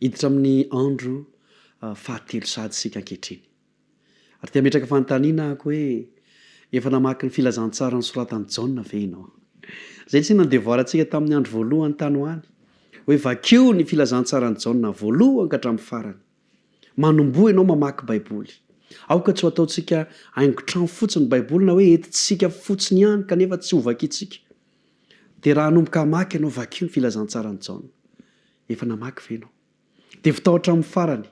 Hiditra amin'ny andro fahatelo sahady isika ankehitriny. Ary te hametraka fanontaniana aho hoe efa namaky ny filazantsara nosoratan'i Jaona ve ianao? Izay tsy inona no devoarantsika tamin'ny andro voalohany tany ho any. Hoe vakio ny filazantsaran'i Jaona voalohany ka hatramin'ny farany. Manomboha ianao mamaky Baiboly. Aoka tsy ho ataontsika haingon-trano fotsiny ny Baiboly na hoe entintsika fotsiny ihany kanefa tsy hovakintsika. Dia raha hanomboka hamaky ianao, vakio ny Filazantsaran'i Jaona. Efa namaky ve ianao? Dia votao hatramin'ny farany.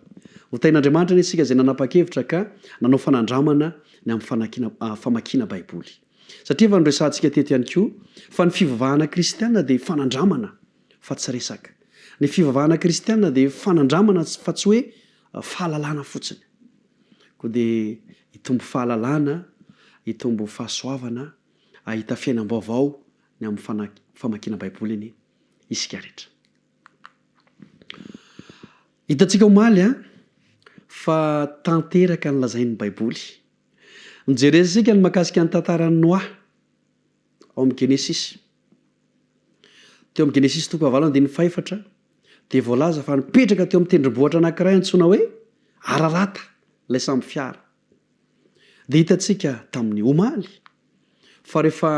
Hotahin'Andriamanitra anie isika izay nanapa-kevitra ka nanao fanandramana ny amin'ny famakiana Baiboly. Satria efa noresahantsika teto ihany koa fa ny fivavahana kristiana dia fanandramana. fa tsy resaka. Ny fivavahana kristiana dia fanandramana fa tsy hoe fahalalana fotsiny. Koa dia hitombo fahalalana, hitombo fahasoavana, hahita fiainam-baovao ny amin'ny famakiana Baiboliny isika rehetra. Hitantsika omaly fa tanteraka ny lazain'ny Baiboly. Nojerentsika ny mahakasika ny tantaran'i Noa. ao amin'ny Genesisy. Teo amin'ny Genesisy toko fahavalo andininy fahefatra dia voalaza fa nipetraka teo amin'ny tendrombohitra anankiray antsoina hoe Ararata ilay sambo fiara. Dia hitantsika tamin'ny omaly fa rehefa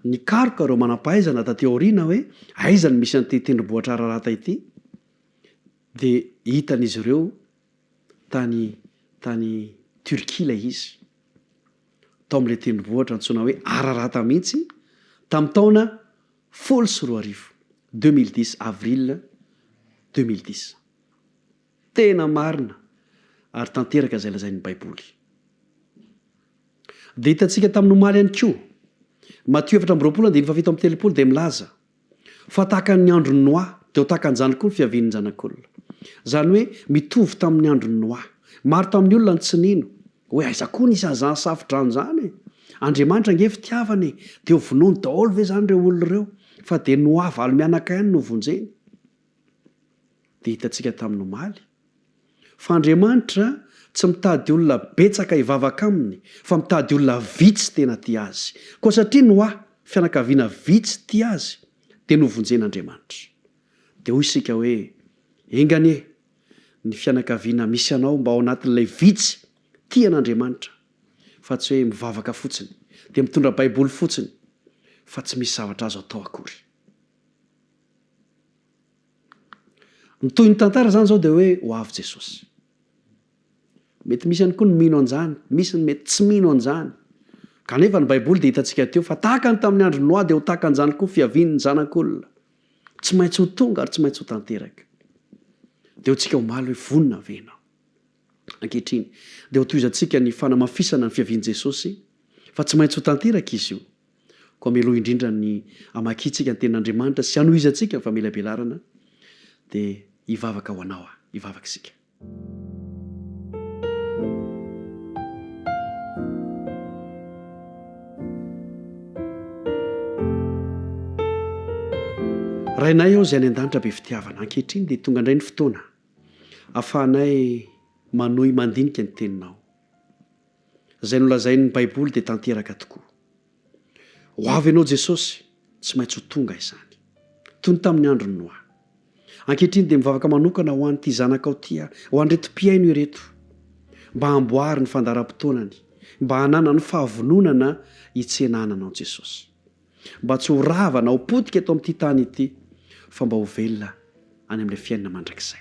nikaroka ireo manam-pahaizana taty aoriana hoe aiza no misy an'ity tendrombohitra Ararata ity dia hitan'izy ireo tany tany Turquie ilay izy. tao amin'ilay tendrombohitra antsoina hoe Ararata mihitsy tamin'ny taona folo sy roa arivo, 2010, avril 2010. Tena marina ary tanteraka izay lazain'ny Baiboly. Dia hitantsika tamin'ny omaly ihany koa, Matio efatra amby roapolo andininy fahafito amby telopolo dia milaza, Fa takan' ny andron' Noa, dia ho takan' izany koa ny fiavian' ny Zanak' olona. Izany hoe, mitovy tamin' ny andron' Noa. Maro tamin' ny olona no tsy nino, hoe, Aiza koa nisy an' izany safodrano izany e? Andriamanitra ange fitiavana e! Dia ho vonoiny daholo ve izany ireo olona ireo? Fa dia Noa valo mianaka ihany no vonjeny. Dia hitantsika tamin'ny omaly, fa Andriamanitra tsy mitady olona betsaka hivavaka Aminy, fa mitady olona vitsy tena tia Azy. Koa satria ny hoa, fianakaviana vitsy tia Azy, dia novonjen'Andriamanitra. Dia hoy isika hoe, Enga anie, ny fianakaviana misy anao mba ao anatin'ilay vitsy tia an'Andriamanitra, fa tsy hoe mivavaka fotsiny, dia mitondra Baiboly fotsiny, fa tsy misy zavatra azo atao akory. Ny tohin'ny tantara izany izao dia hoe ho avy Jesosy. Mety misy ihany koa ny mino an'izany, misy ny mety tsy mino an'izany. Kanefa ny Baiboly dia hitantsika teo fa tahaka ny tamin'ny andron'i Noa dia ho tahaka an'izany koa fiavian'ny zanak'olona. Tsy maintsy ho tonga ary tsy maintsy ho tanteraka. Dia ho tsika omaly hoe vonona ve ianao? Ankehitriny, dia hotohizantsika ny fanamafisana ny fiavian'i Jesosy, fa tsy maintsy ho tanteraka izy io. Koa mialoha indrindra ny hamakiantsika ny Tenin'Andriamanitra sy hanohizantsika ny famelabelarana, dia hivavaka ho anao aho. Hivavaka isika. Rainay ô Izay any An-danitra be fitiavana, ankehitriny dia tonga indray ny fotoana Afahanay manohy mandinika ny Teninao. Izay nolazain'ny Baiboly dia tanteraka tokoa. Ho avy Ianao Jesosy, tsy maintsy ho tonga izany. Toy ny tamin'ny andron'i Noa. Ankehitriny dia mivavaka manokana ho an'ity zanakao ity aho, ho an'ireto mpihaino ireto, mba hamboary ny fandaharam-potoanany, mba hananany fahavononana hitsenahana Anao Jesosy. mba tsy ho rava na ho potika eto amin'ity tany ity, fa mba ho velona any amin'ilay fiainana mandrakizay.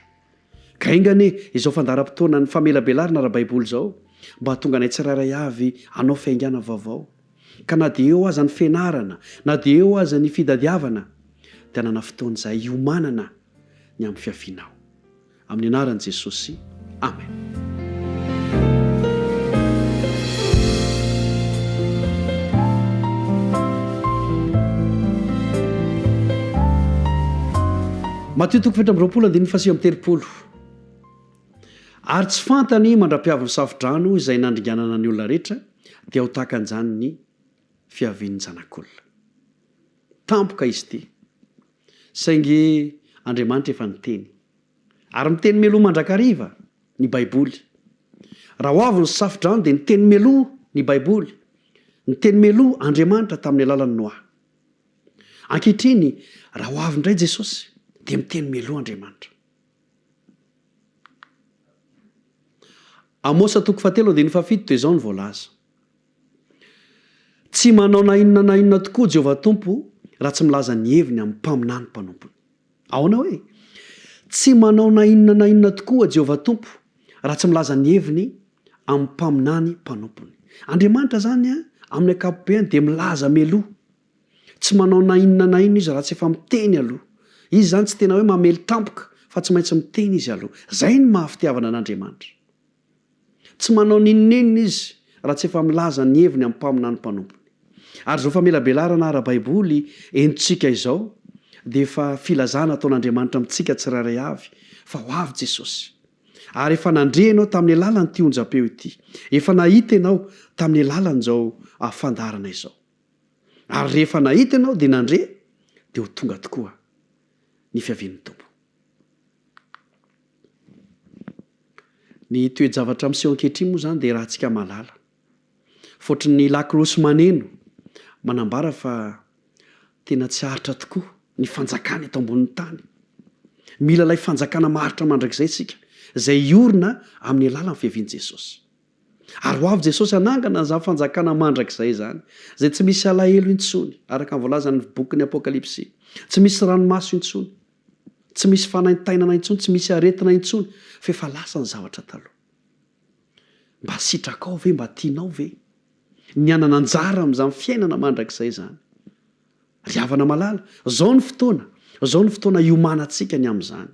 Ka enga anie izao fandaharam-potoanan'ny famelabelarana ara-baiboly izao mba hahatonga anay tsirairay avy hanao fiaingàna vaovao. Ka na dia eo aza ny fianarana, na dia eo aza ny fitadiavana, dia hanana fotoana izahay hiomanana ny amin'ny fiavianao. Amin'ny anaran'i Jesosy, amen. Matio toko fito amby roapolo andininy fahasivy amby telopolo Ary tsy fantany mandra-piavy ny safo-drano izay nandringanana ny olona rehetra, dia ho tahaka an'izany ny fiavian'ny Zanak'olona. Tampoka izy ity, Saingy Andriamanitra efa niteny. Ary miteny mialoha mandrakariva ny Baiboly. Raha ho avy ny safodrano dia niteny mialoha ny Baiboly, niteny mialoha Andriamanitra tamin'ny alalan'i Noa. Ankehitriny, raha ho avy indray Jesosy, dia miteny mialoha Andriamanitra. Amosa toko fahatelo andininy fahafito dia izao no voalaza. Tsy manao na inona na inona tokoa Jehovah Tompo raha tsy milaza ny heviny amin'ny mpaminany mpanompony. Ahoana hoe? Tsy manao na inona na inona tokoa Jehovah Tompo raha tsy milaza ny heviny amin'ny mpaminany mpanompony. Andriamanitra izany amin'ny ankapobeny dia milaza mialoha. Tsy manao na inona na inona izy raha tsy efa miteny aloha. Izy izany tsy tena hoe mamely tampoka fa tsy maintsy miteny izy aloha. Izay ny maha fitiavana an'Andriamanitra. Tsy manao n'inon'inona izy raha tsy efa milaza ny heviny amin'ny mpaminany mpanompony. Ary izao famelabelarana ara-baiboly entintsika izao dia efa filazana ataon'Andriamanitra amintsika tsirairay avy fa ho avy Jesosy. Ary efa nandre ianao tamin'ny alalan'ity onjam-peo ity. Efa nahita ianao tamin'ny alalan'izao fandaharana izao. Ary rehefa nahita ianao dia nandre dia ho tonga tokoa ny fiavian'ny Tompo. Ny toe-javatra miseho ankehitriny moa izany dia rahantsika mahalala. Fotry ny lakolosy maneno manambara fa tena tsy aritra tokoa ny fanjakana eto ambonin'ny tany. Mila ilay fanjakana maharitra mandrakizay isika, izay hiorina amin'ny alalan'ny fiavian'i Jesosy. Ary ho avy Jesosy hanangana izany fanjakana mandrakizay izany, izay tsy misy alahelo intsony, araka ny voalazan'ny bokin'ny Apokalypsy, tsy misy ranomaso intsony, Tsy misy fanaintainana intsony, tsy misy aretina intsony fa efa lasa ny zavatra taloha. Mba sitrakao ve, mba tianao ve ny hanana anjara amin'izany fiainana mandrakizay izany? Ry havana malala, izao ny fotoana, izao ny fotoana hiomanantsika ny amin'izany.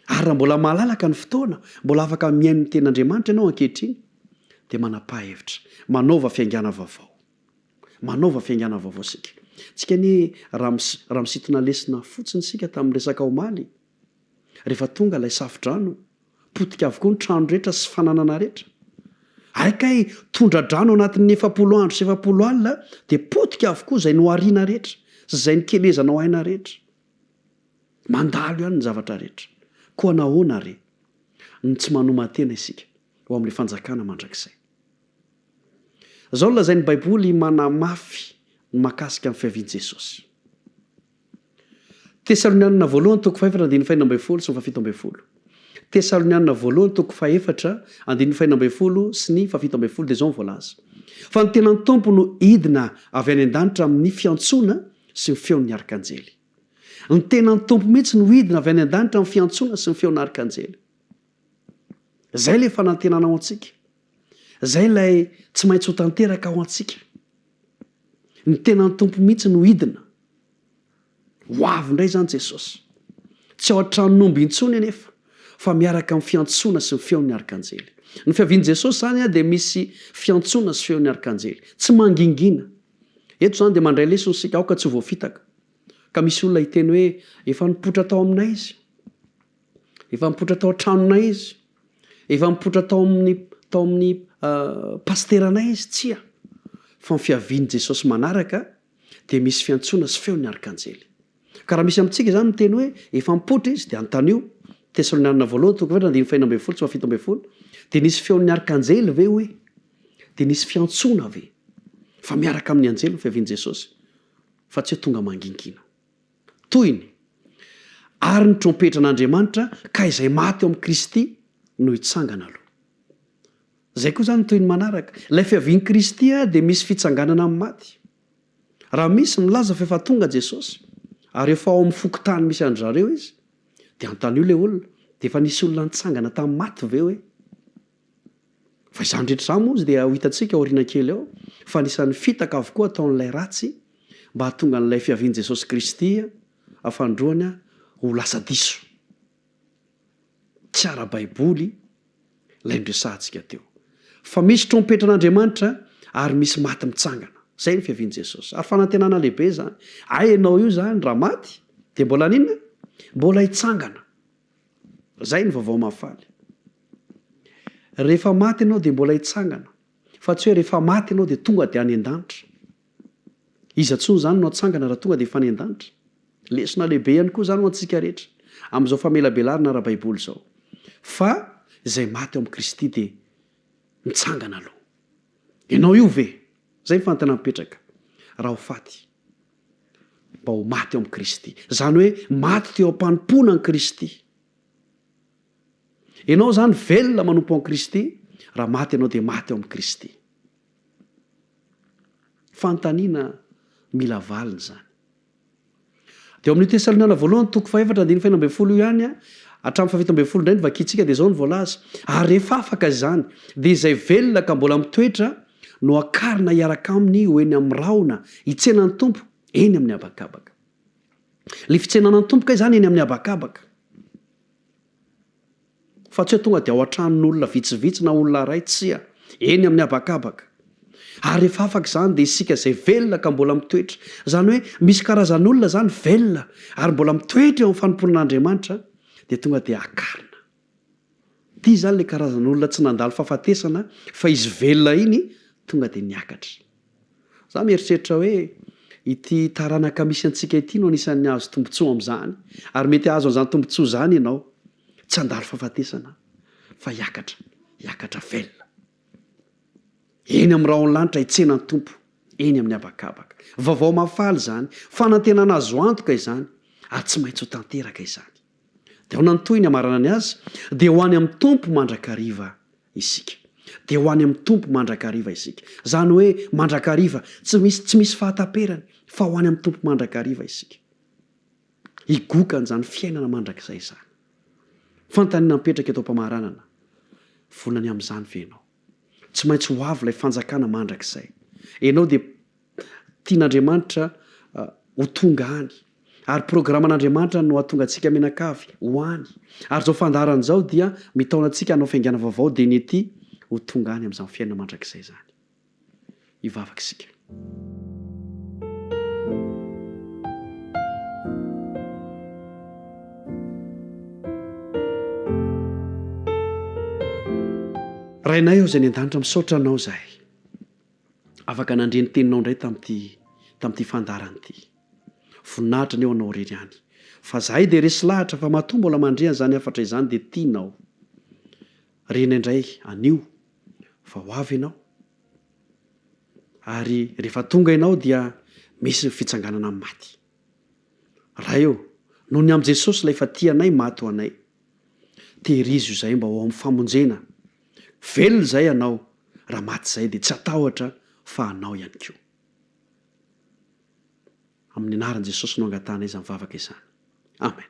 Ary raha mbola malalaka ny fotoana, mbola afaka mihaino ny Tenin'Andriamanitra ianao ankehitriny, dia manam-pahevitra, manaova fiaingàna vaovao. Manaova fiaingàna vaovao isika. Tsika anie raha raha misintona lesona fotsiny isika tamin'ny resaka omaly, rehefa tonga ilay safodrano, potika avokoa ny trano rehetra sy fananana rehetra. Ary kay tondra-drano anatin'ny efapolo andro sy efapolo alina dia potika avokoa izay nohariana rehetra sy izay nikelezana ho aina rehetra. Mandalo ihany ny zavatra rehetra. Koa nahoana àry no tsy manoma-tena isika ho amin'ilay fanjakana mandrakizay? Izao no lazain'ny Baiboly manamafy ny mahakasika ny fiavian'i Jesosy, Tesalonianina Voalohany toko fahefatra andininy faheno ambin'ny folo sy ny fahafito ambin'ny folo, Tesalonianina Voalohany toko fahefatra andininy faheno ambin'ny folo sy ny fahafito ambin'ny folo dia izao no voalaza, Fa ny tenan'ny Tompo no hidina avy any an-danitra amin'ny fiantsoana sy ny feon'ny arkanjely. Ny tenan'ny Tompo mihitsy no hidina avy any an-danitra amin'ny fiantsoana sy ny feon'ny arkanjely. Izay ilay fanantenana ao antsika. Izay ilay tsy maintsy ho tanteraka ao antsika. Ny tenan'ny Tompo mihitsy no hidina. Ho avy indray izany Jesosy. Tsy ao an-tranon'omby intsony anefa, fa miaraka amin'ny fiantsoana sy ny feon'ny arkanjely. Ny fiavian'i Jesosy izany dia misy fiantsoana sy feon'ny arkanjely. Tsy mangingina. Eto izany dia mandray lesona isika, aoka tsy ho voafitaka. Ka misy olona hiteny hoe, efa nipoitra tao aminay izy. Efa mipoitra tao an-tranonay izy. Efa mipoitra tao amin'ny tao amin'ny pasiteranay izy. Tsia, fa ny fiavian'i Jesosy manaraka dia misy fiantsoana sy feon'ny arkanjely. Ka raha misy amintsika izany miteny hoe efa mipoitra izy, dia antanio, Tesalonianina voalohany, toko efatra, andininy faheno ambin'ny folo sy fahafito ambin'ny folo, dia nisy feon'ny arkanjely ve hoe? Dia nisy fiantsoana ve? Fa miaraka amin'ny anjely ny fiavian'i Jesosy, fa tsy hoe tonga mangingina. Tohiny, Ary ny trompetran'Andriamanitra ka izay maty ao amin'i Kristy no hitsangana aloha. Izay koa izany ny tohiny manaraka. Ilay fiavian'i Kristy dia misy fitsanganana amin'ny maty. Raha misy milaza fa efa tonga Jesosy, ary efa ao amin'ny fokontany misy an-dry zareo Izy, dia antanio ilay olona, dia efa nisy olona nitsangana tamin'ny maty ve hoe? Fa izany rehetra izany moa dia ho hitantsika aoriana kely eo fa anisan'ny fitaka avokoa ataon'ilay ratsy mba hahatonga an'ilay fiavian'i Jesosy Kristy afandroany ho lasa diso. Tsy ara-baiboly ilay noresahantsika teo. Fa misy trompetran'Andriamanitra ary misy maty mitsangana. Izay ny fiavian'i Jesosy. Ary fanantenana lehibe izany. Hay ianao io izany raha maty dia mbola haninona? Mbola hitsangana. Zay ny vaovao mahafaly. Rehefa maty ianao dia mbola hitsangana, fa tsy hoe rehefa maty ianao dia tonga dia any an-danitra. Iza intsony izany no hatsangana raha tonga dia efa any an-danitra? Lesona lehibe ihany koa izany ho antsika rehetra, amin'izao famelabelarana ara-baiboly izao. Fa izay maty ao amin'i Kristy dia mitsangana aloha. Ianao io ve? Izay ny fanontana mipetraka. Raha ho faty. mba ho maty eo amin'i Kristy. Izany hoe maty teo am-panompoana an'i Kristy. Ianao izany velona manompo an'i Kristy, raha maty ianao dia maty eo amin'i Kristy. Fanontaniana mila valiny izany. Dia ao amin'ny Tesaloniana voalohany toko fahefatra andininy fahena ambin'ny folo io ihany a, hatramin'ny fahafito ambin'ny folo indray ny vakintsika dia izao no voalaza. Ary rehefa afaka izany, dia izay velona ka mbola mitoetra, Nohakarina hiaraka aminy ho eny amin'ny rahona hitsena ny Tompo eny amin'ny habakabaka. Ilay fitsenana ny Tompo kay izany eny amin'ny habakabaka. Fa tsy hoe tonga dia ao an-tranon'olona vitsivitsy na olona iray, tsia, eny amin'ny habakabaka. Ary rehefa afaka izany dia isika izay velona ka mbola mitoetra. Izany hoe misy karazan'olona izany velona ary mbola mitoetra eo amin'ny fanompoana an'Andriamanitra dia tonga dia hakarina. Ty zany le karazana olona tsy nandalo fafatesana fa izy velona iny tonga de niakatra. Za mieritreritra hoe ity taranaka misy antsika ity no anisan'ny hahazo tombotsoa amzany ary mety hahazo anzany tombotsoa zany enao tsy handalo fafatesana fa hiakatra hiakatra velona eny am rahon lanitra hitsena ny Tompo eny amin'ny habakabaka. Vaovao mahafaly zany, fanantenana azo antoka izany ary tsy maintsy ho tanteraka izany. Dia ahoana ny tohiny hamarana ny azy? Dia ho any amin'ny Tompo mandrakariva isika. Dia ho any amin'ny Tompo mandrakariva isika. Izany hoe mandrakariva, tsy misy tsy misy fahataperany, fa ho any amin'ny Tompo mandrakariva isika. Higoka an'izany fiainana mandrakizay izany. Fanontaniana mipetraka eto am-pamaranana, vonona ny amin'izany ve ianao? Tsy maintsy ho avy ilay fanjakana mandrakizay. Ianao dia Tian'Andriamanitra ho tonga any. Ary programan'Andriamanitra no hahatonga antsika mianakavy ho any. Ary izao fandaharana izao dia mitaona antsika hanao fiaingana vaovao dia ny ety ho tonga any amin'izany fiainana mandrakizay izany. Hivavaka isika. Rainay ô izay any an-danitra, misaotra Anao izahay. afaka nandre ny teninao indray tamin'ity tamin'ity fandaharana ity. Voninahitra ny eo anao irery ihany. Fa zahay dia resy lahatra fa matoa mbola mandre an'izany hafatra izany dia tianao. Rena indray anio fa ho avy ianao. Ary rehefa tonga ianao dia misy ny fitsanganana amin'ny maty. Ray ô, noho ny amin'i Jesosy ilay efa tia anay maty ho anay. Tehirizo izahay mba ho ao amin'ny famonjena. Velona izahay Anao, raha maty izahay dia tsy hatahotra fa Anao ihany koa. Amin'ny anaran'i Jesosy no angatahanay izany vavaka izany. Amen.